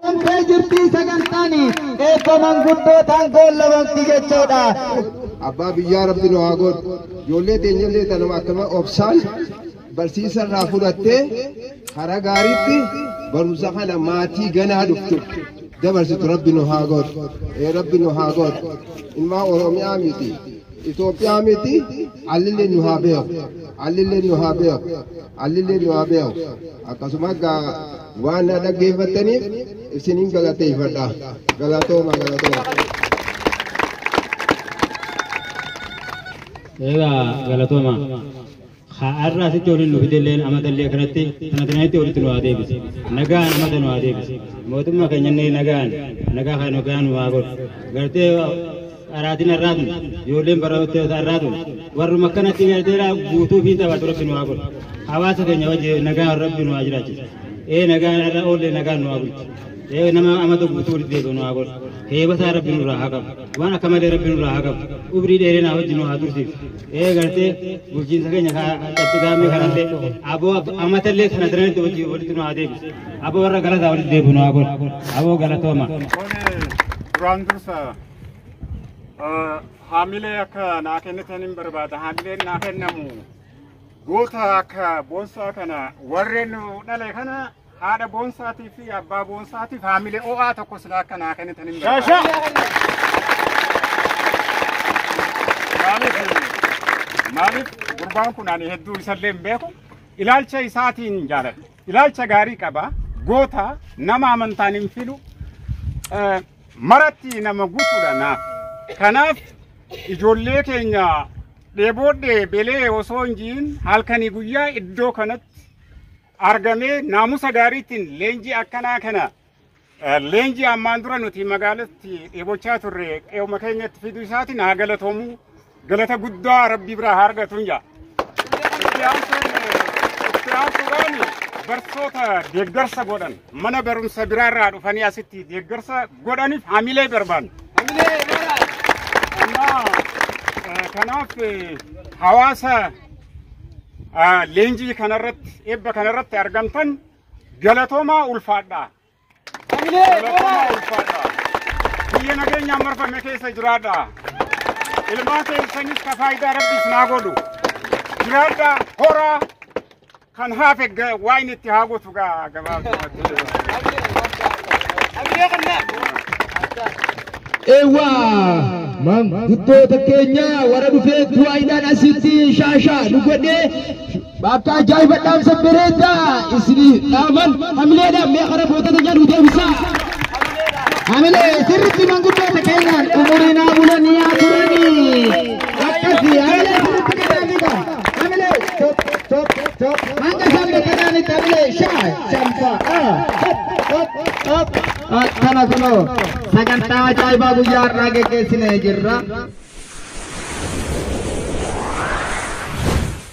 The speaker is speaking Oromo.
Qunqee jirtii sagantaan eebba manguddootaan goolabamti jechuudha. Abbaa biyyaa rabbi nu haa godhu. Ijoollee teenyallee tanuma akkama obsaan barsiisa irraa fudhattee karaa gaariitti barumsa kana maatii ganaa dhuftu dabarsitu rabbi nu haa godhu. Ee rabbi nu haa godhu. Ilmaa Oromiyaa miti. Itoophiyaa miti. Allillee nu haa beeku. Allillee nu haa beeku. Allillee nu haa beeku. Akkasuma gaa Waan na dhaggeeffattaniif isinin galateeffadha. Galatooma galatooma. Egaa galatooma. Har'a asitti waliin nu fidelleen amatallee kanatti kana kanatti walitti nu haa deebise. Nagaan amata nu haa deebise. Mootummaa keenya inni nagaan nagaa kan nagaan nu haa godhu. Gartee Dharaatiin har'aa tun ijoolleen barattoota har'aa tun warruma akkanatti garteera guutuu fi taphatu rabbi nu haa godhu. Hawaasa keenya wajji nagaan rabbi nu haa jiraachisu. Ee nagaan har'a oollee nagaan nu haa bulchu. Ee nama amata guutuu walitti deebi'u nu haa godhu. Heebataa rabbi nurraa haa qabu. Waan akka malee rabbi nurraa haa qabu. Umrii dheerinaa wajji nu haa tursiisu. Ee gartee bulchiinsa keenya qatti gaammee kanallee aboo amatallee kana daranitti wajji walitti nu haa deebisu. Aboo warra galataa walitti deebi'u nu haa godhu. Aboo galatooma. Duraan dursa Haamilee akka naa kennitan hin barbaada. Haamileen naa kennamu goota akka boonsaa kana warreen nu dhale kana haadha boonsaatii fi abbaa boonsaatiif haamilee ho'aa tokko sila akka naa kennitan hin barbaada. Maaliif maaliif gurbaan kun ani hedduu isallee hin beeku ilaalcha isaatiin hin jaaladhu. Ilaalcha gaarii qaba. Goota nama amantaan hin filu. Eh, maratti nama guutuudha naaf. Kanaaf ijoollee keenya dheeboodhee belee osoo hin jiin halkanii guyyaa iddoo kanatti argamee naamusa gaariitiin leenjii akkanaa kana eh, leenjii ammaan dura nuti magaalatti dheebochaa turre qe'uma keenyatti fiduu isaatiin haa galatoomuu Galata guddaa rabbii biraa haa argatuun jaa. Itti aansuun itti aansuudhaan barsoota deeggarsa godhan mana barumsa biraarraa dhufanii asitti deeggarsa godhaniif hamilee barbaanna. Kanaaf, eh, Kanaaf eh, hawaasa ah, leenjii kanarratti eebba kanarratti argamtan galatoomaa ulfaadhaa. Hamilee Galatoomaa Booraa! ulfaadha. Biyya nageenyaan marfame keessa jiraadha. Ilmaan keessanis ka faayidaa rabbi isin haa godhu. Jiraadha horaa kan hafe ga- waa inni itti haa gotu gaa gabaabsumatti. Hamilee Qannaa! Ewa manguddoota keenya warra dhufee du'aayiidhaan asitti shaashaa nu godhee Bakka ajaa'iba dhaamsa bareedaa isinii dhaaman hamileedhaan mee karaa gootota jedhu deebisaa. Hamilee sirriitti manguddoota keenyaan umuriin haa bulanii haa turanii. Akkasii hamilee sirriitti kennaa fiigaa. Hamilee top top top hanga isaan beekanaanitti hamilee shaa shanfaa ah top top top. Akkana kunoo sagantaa ajaa'ibaa guyyaa har'aa geggeessinee jirra.